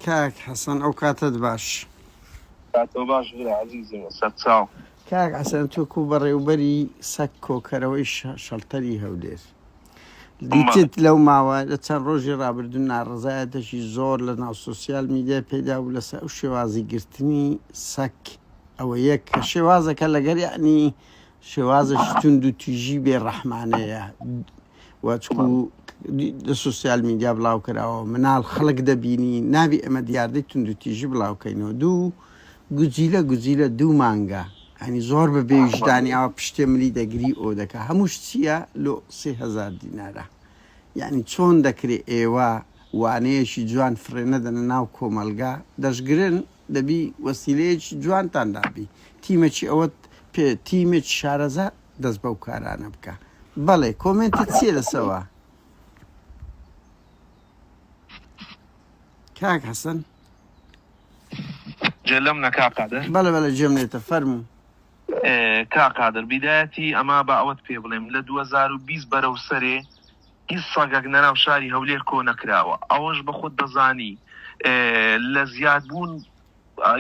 کاک حەسەن ئەو کاتەت باش. کاک تۆ باش برا ئەزیزم سەرچاو. کاک حەسەن تۆ کو بەڕێوبەری سەگ کۆکەرەوەی شەڵتەری هەولێر دیتت لەو ماوە لە چەند ڕۆژی ڕابردوو ناڕزایەتەشی زۆر لە ناو سوسیال میدیای پێدا و لەسە ئەو شێوازی گرتنی سەک ئەوە یەک کە شێوازەکە لەگەر یعنی شێوازێکی توند و تویژی بێ ڕەحمانەیە وەچکو لە سوسیال میدیا بڵاو کراوە منال خەڵک دەبینی نابی ئەمە دیاردەی تونند و تیژی بڵاوکەینەوە دوو گوجیلە گوجیلە دوو مانگە ئەنی زۆر بە بێویژدانی ئەوە پشتێ ملی دەگری ئەو دەکە هەمووش چییە لۆ سهزار دینارە یعنی چۆن دەکرێت ئێوە وانەیەکی جوان فرێنەدەنە ناو کۆمەلگا دەشگرن دەبی وەسیلەیەکی جوانتان دابی تیمەکی ئەوەت پێ تیمێکی شارەزا دەست بەو کارانە بکە بەڵێ کۆمێنتت چیە لەسەوە کاک حەسەن جێلم نەکا قادر بەڵێ بەڵێ جێم لێتە فەرموو کا قادر بیدایەتی ئەما با ئەوەت پێ بڵێم لە 2020 بەرەو سەرێ هیچ سەگەک نەناو شاری هەولێر کۆ نەکراوە ئەوەش بەخۆت دەزانی لە زیاد بوون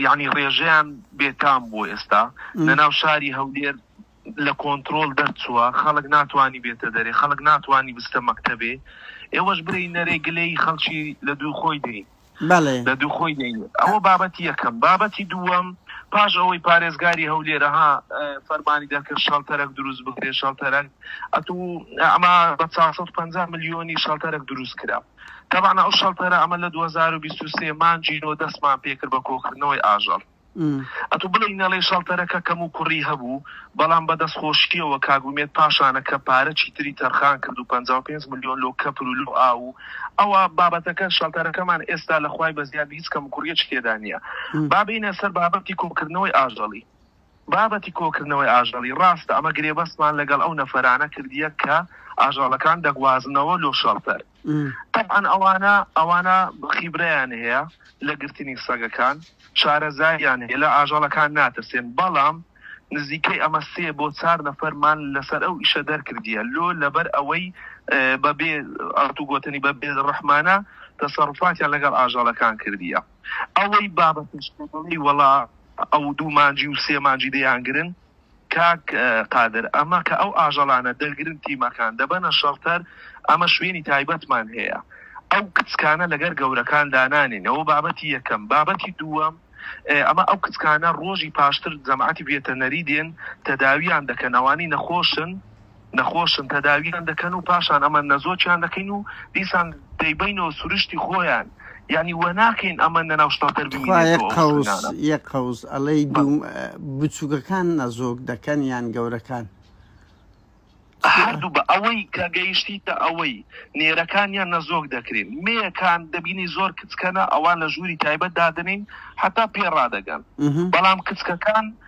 یعنی ڕێژەیان بێتام بۆ ئێستا نەناو شاری هەولێر لە کۆنتترۆل دەرچووە خەڵک ناتوانانی بێتە دەرێ خەڵک ناتوانانی بستە مەکتتەبێ ئێوەش بری نەرێ گلەی خەڵکی لە دوو خۆی دەین بەڵێ. لە دوو خۆی دەینێت. ئەوە بابەتی یەکەم. بابەتی دووەم، پاش ئەوەی پارێزگاری هەولێر ها فەرمانی دەرکرد شەڵتەرەک دروست بکرێت، شەڵتەرەک ئەتوو ئەمە بە چوار سەد و پەنجا ملیۆنی شەڵتەرەک دروست کرا. تەبعەن ئەو شەڵتەرە ئەمە لە دوو هەزار و بیست و سێ مانگی نۆ دەستمان پێ کرد بە کۆکردنەوەی ئاژەڵ. ئەتو بڵێی نەڵێی شەڵتەرەکە کەم و کوڕی هەبوو بەڵام بە دەست خۆشیەوە کاک ئومێد پاشانە کە پارە چی تری تەرخان کرد و پەنجا و پێنج ملیۆن لۆ کەپر و لۆ ئاو و ئەوە بابەتەکە شەڵتەرەکەمان ئێستا لە خوای بەزیاد هیچ کەم و کوڕیەکی تێدا نیە با بێینە سەر بابەتی کۆکردنەوەی ئاژەڵی بابەتی کۆکردنەوەی ئاژەڵی ڕاستە ئەمە گرێبەستمان لەگەڵ ئەو نەفەرانە کردیە کە ئاژەڵەکان دەگوازنەوە لۆ شەڵتەر. تەبعەن ئەوانە ئەوانە خیبرەیان هەیە لە گرتنی سەگەکان شارەزاییان هەیە لە ئاژەڵەکان ناترسێن بەڵام نزیکەی ئەمە سێ بۆ چار نەفەرمان لەسەر ئەو ئیشە دەرکردیە لۆ لەبەر ئەوەی بە بێ ئەرت و گۆتنی بە بێ ڕەحمانە تەسەڕوفاتیان لەگەڵ ئاژەڵەکان کردیە ئەوەی بابەتیش وەڵا ئەو دوو مانجی و سێ مانجی دەیانگرن کاک قادر ئەمە کە ئەو ئاژەڵانە دەگرن تیمەکان دەبەنە شەڵتەر ئەمە شوێنی تایبەتمان هەیە ئەو کچکانە لەگەر گەورەکان دانانێن ئەوە بابەتی یەکەم بابەتی دووەم ئەمە ئەو کچکانە ڕۆژی پاشتر جەماتی ڤێتەنەری دێن تەداویان دەکەن ئەوانەی نەخۆشن نەخۆشن تەداویان دەکەن و پاشان ئەمە نەزۆکیان دەکەین و دیسان دەیبەینەوە سروشتی خۆیان یانی وەناکەین ئەمە نەناو شتەڵتەر بمینێتەوە ئەو خوێنانە. تخوا یەک قەوز یەک قەوز ئەڵێی بە. دوو بچووکەکان نەزۆک دەکەن یان گەورەکان؟ هەردوو بە ئەوەی کە گەیشتیتە ئەوەی نێرەکانیان نەزۆک دەکرێن مێیەکان دەبینی زۆر کچکەنە ئەوان لە ژووری تایبەت دادەنێین هەتا پێ ڕادەگەن بەڵام کچکەکان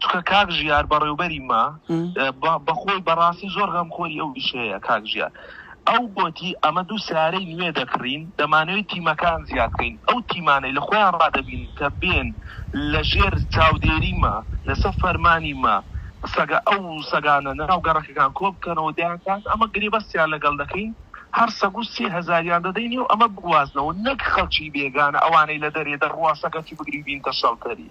چونکە کاک ژیار بەڕێوبەری ما بەخۆی بەڕاستی زۆر غەم خۆری ئەو وشەیە کاک ژیار ئەو گۆتی ئەمە دوو سارەی نوێ دەکڕین دەمانەوەی تیمەکان زیادکەین ئەو تیمانەی لە خۆیان ڕادەبین کە بێن لە ژێر چاودێری ما لەسەر فەرمانی ما سەگە ئەو سەگانە ناو گەڕەکەکان کۆ بکەنەوە دەیانکان ئەمە گرێ بەستیان لەگەڵ دەکەین هەر سەگ و سێ هەزاریان دەدەینی و ئەمە بوازنەوە نەک خەڵکی بێگانە ئەوانەی لە دەرێ دەڕواسەکەکی بگری بینتە شەڵتەری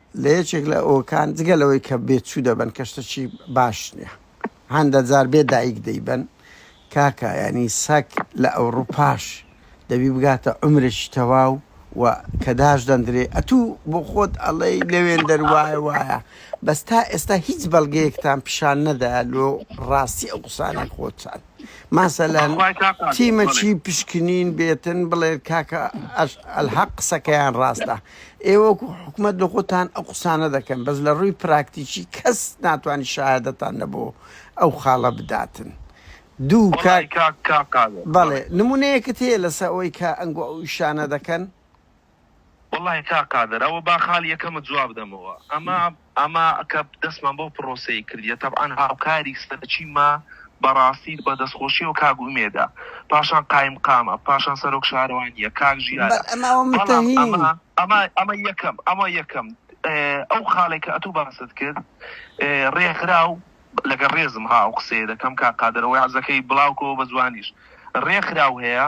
لە یەکێک لە ئەوەکان جگە لەوەی کە بێ چوو دەبەن کە شتەکی باش نیە هەندە جار بێ دایک دەیبەن کاکە یانی سەگ لە ئەوڕوپاش دەبی بگاتە عومرێکی تەواو و کە داش دەندرێ ئەتوو بۆ خۆت ئەڵێی لەوێندەر وایە وایە بەس تا ئێستا هیچ بەڵگەیەکتان پیشان نەدایە لۆ ڕاستی ئەو قسانەی خۆتان. مەسەلەن خوای تاقە ئەکەم تیمە بەڵێ چی پشکنین بێتن بڵێت کاکە ئەش ئەلحەق قسەکەیان ڕاستە ئێوە وەکو حکومەت لە خۆتان ئەو قسانە دەکەن بەس لە ڕووی پراکتیکی کەس ناتوانانی شەهادەتان لە بۆ ئەو خاڵە بداتن دوو وەڵای کاک کاک تاقە بەڵێ بەڵێ نمونەیەکت هەیە لەسە ئەوەی کە ئەنگۆ ئەو ئیشانە دەکەن وەڵاهی کاک قادر ئەوە با خاڵی یەکەمت جواب دەمەوە ئەمە ئەمە کە دەستمان بەو پڕۆسەیە کردیە تەبعەن هاوکاری سەرەکیمە بەڕاستی بە دەستخۆشیەوە کاک ئومێدە پاشان قایمقامە پاشان سەرۆک شارەوانیە کاک ژیارە بەڵام ئەمە ئەمە ئەمە یەکەم ئەمە یەکەم ئەو خاڵێک کە ئەتوو باست کرد ڕێکخراو لەگەڵ ڕێزم ها ئەو قسەیە دەکەم کاک قادر ئەوەی عەزەکەی بڵاوکەوە بە جوانیش ڕێکخراو هەیە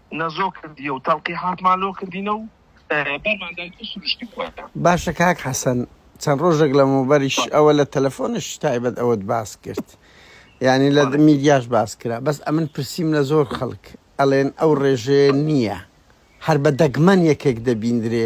نەزۆک کردیە و تەڵقی حاکمان لۆ کردینە و بەرمان دایت و سروشتی خۆیان. باشە کاک حەسەن چەند ڕۆژێک لەمەوبەریش ئەوە لە تەلەفۆنش تایبەت ئەوەت باس کرد یانی لە میدیاش باس کرا بەس ئەمن پرسیم لە زۆر خەڵک ئەڵێن ئەو ڕێژەیە نییە هەر بە دەگمەن یەکێک دەبیندرێ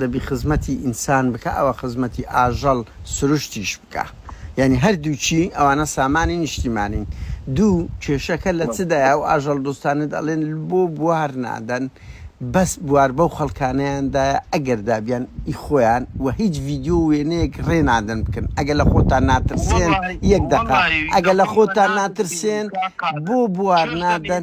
دەبی خزمەتی ئینسان بکا ئەوە خزمەتی ئاژەڵ سروشتیش بکا یانی هەردووکی ئەوانە سامانی نیشتیمانین دوو کێشەکە لە چ دایە ئەو ئاژەڵ دۆستانەت ئەڵێن بۆ بوار نادەن بەس بوار بەو خەڵکانەیان دایە ئەگەر دابیان ئی خۆیان وە هیچ ڤیدیۆ و وێنەیەک ڕێ نادەن بکەن ئەگەر لە خۆتان ناترسێن یەک دەقە ئەگەر لە خۆتان ناترسێن بۆ بوار نادەن.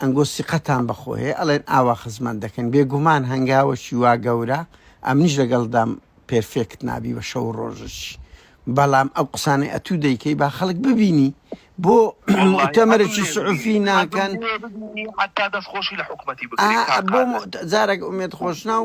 ئەنگۆ سیقەتان بەخۆ هەیە ئەڵێن ئاوا خزمەت دەکەن بێگومان هەنگاوەکی وا گەورە ئەمنیش لەگەڵدام پێرفێکت نابی بە شەو و ڕۆژشی بەڵام ئەو قسانەی ئەتوو دەیکەی با خەڵک ببینی بۆ موئتەمەرێکی سعوفی ناکەن حەتا دەست خۆشی لە حکومەتی بکەی کاک قادر. ئا بۆ موئتە جارێک ئومێد خۆشناو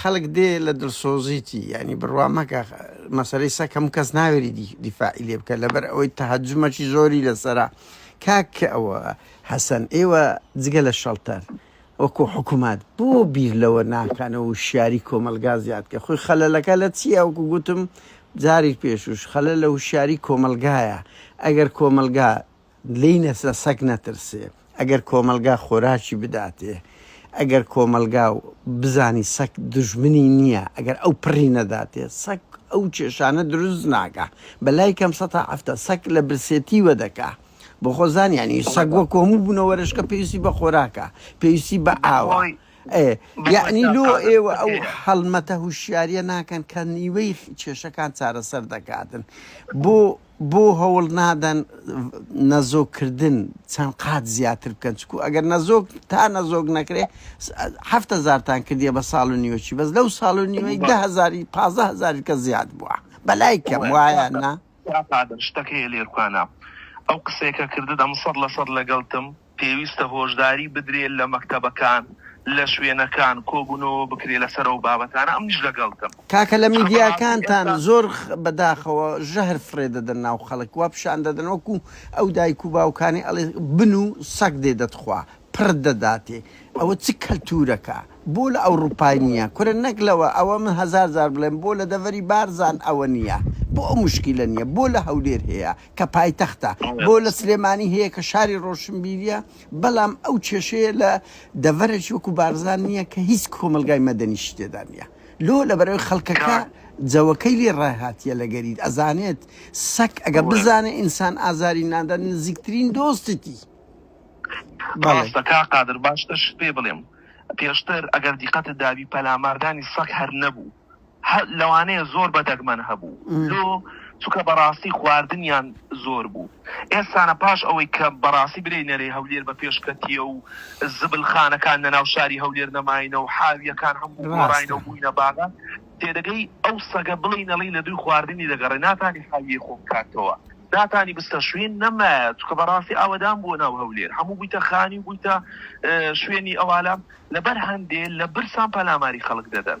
خەلک دێ لە دلسۆزیتی یانی بروا مەکە مەسەلەی سەگ هەموو کەس ناوێری دیفاعی لێ بکە لەبەر ئەوەی تەهەجومەکی زۆری لەسەرە کاک ئەوە حەسەن ئێوە جگە لە شەڵتەر وەکو حکومات بۆ بیر لەوە ناکانەوە و شاری کۆمەلگا زیاد کە خۆی خەلەلەکە لە چیە وەکو گوتم جاری پێشوش خەلە لە وشاری کۆمەلگایە ئەگەر کۆمەلگا لێی نەچە سەگ نەترسێ ئەگەر کۆمەڵگا خۆراکی بداتێ ئەگەر کۆمەڵگا و بزانی سەگ دوژمنی نیە ئەگەر ئەو پڕی نەداتێ سەگ ئەو کێشانە دروست ناکا بەلای کەم سەد تا حەفتا سەگ لە برسێتی وەدەکا بۆ خۆ زانیانی سەگ وەکو هەموو بونەوەرشکە پێویستی بە خۆراکە پێویستی بە ئاوە ئێ یەعنی لۆ ئێوە ئەو هەڵمەتە هوشیاریە ناکەن کە نیوەی کێشەکان چارەسەر دەکاتن بۆ بۆ هەوڵ نادەن نەزۆک کردن چەند قات زیاتر بکەن چکو ئەگەر نەزۆک تا نەزۆک نەکرێ حەفت هەزارتان کردیە بە ساڵ و نیوەچی بەس لەو ساڵ و نیوەی دە هەزاری پازدە هەزاری کەس زیاد بووە بەلای کەم وایە نا؟ کاک قادر شتەک هەیە لێرکوانا ئەو قسەیە کە کردت ئەمن سەد لە سەد لەگەلتم پێویستە هۆشداری بدرێ لە مەکتەبەکان لە شوێنەکان کۆبونەوە بکرێ لەسەر ئەو بابەتانە ئەمنیش لەگەڵتم. کاکە لە میدیاکانتان زۆر بە داخەوە ژەهر فڕێ دەدەن ناو خەڵک وا پیشان دەدەن وەکو ئەو دایک و باوکانەی ئەڵێ بن و سەگ دێ دەتخوا پڕت دەداتێ ئەوە چ کەلتورەکە بۆ لە ئەوڕوپای نیە کورە نەک لەوە ئەوە من هەزار جار بڵێم بۆ لە دەڤەری بارزان ئەوە نیە بۆ ئەو مشکیلە نیە بۆ لە هەولێر هەیە کە پایتەختە بۆ لە سلێمانی هەیە کە شاری ڕۆشنبیریە بەڵام ئەو کێشەیە لە دەڤەرێکی وەکو بارزان نییە کە هیچ کۆمەلگای مەدەنیش تێدا نیە لۆ لە بەرەوەی خەڵکەکە جەوەکەی لێ ڕاهاتیە لە گەریت ئەزانێت سەک ئەگە بزانێت ئینسان ئازاری نادا نزیکترین دۆستتی بەڵێ کا قادر باشتر شت پێ بڵێم پێشتر ئەگەر دیقەتت دابی پەلاماردانی سەک هەر نەبوو هە لەوانەیە زۆر بە دەگمەن هەبوو لۆ چوکە بەڕاستی خواردنیان زۆر بوو ئێستانە پاش ئەوەی کە بەڕاستی برێی نەرێ هەولێر بە پێش کەتیە و زبل خانەکان لە ناو شاری هەولێر نەماینە و حاویەکان هەموو گۆڕاینە و بووینە باغە تێدەگەی ئەو سەگە بڵێی نەڵی لە دووی خواردنی دەگەڕێ ناتانی حاویەی خۆ بکاتەوە ناتانی بستە شوین نەمایە چوکە بەڕاستی ئاوەدان بووە ناو هەولێر هەموو بوویتە خانی و بوویتە شوێنی ئەوالام لەبەر هەندێ لە برسان پەلاماری خەڵک دەدەن.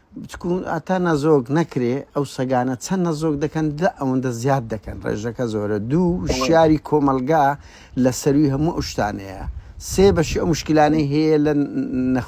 بچکو ئاتا نەزۆک نەکرێ ئەو سەگانە چەند نەزۆک دەکەن دە ئەوەندە زیاد دەکەن ڕێژەکە زۆرە دوو شاری کۆمەلگا لە سەروی هەموو ئەو شتانەیە سێ بەشی ئەو مشکلانەی هەیە لە نەخ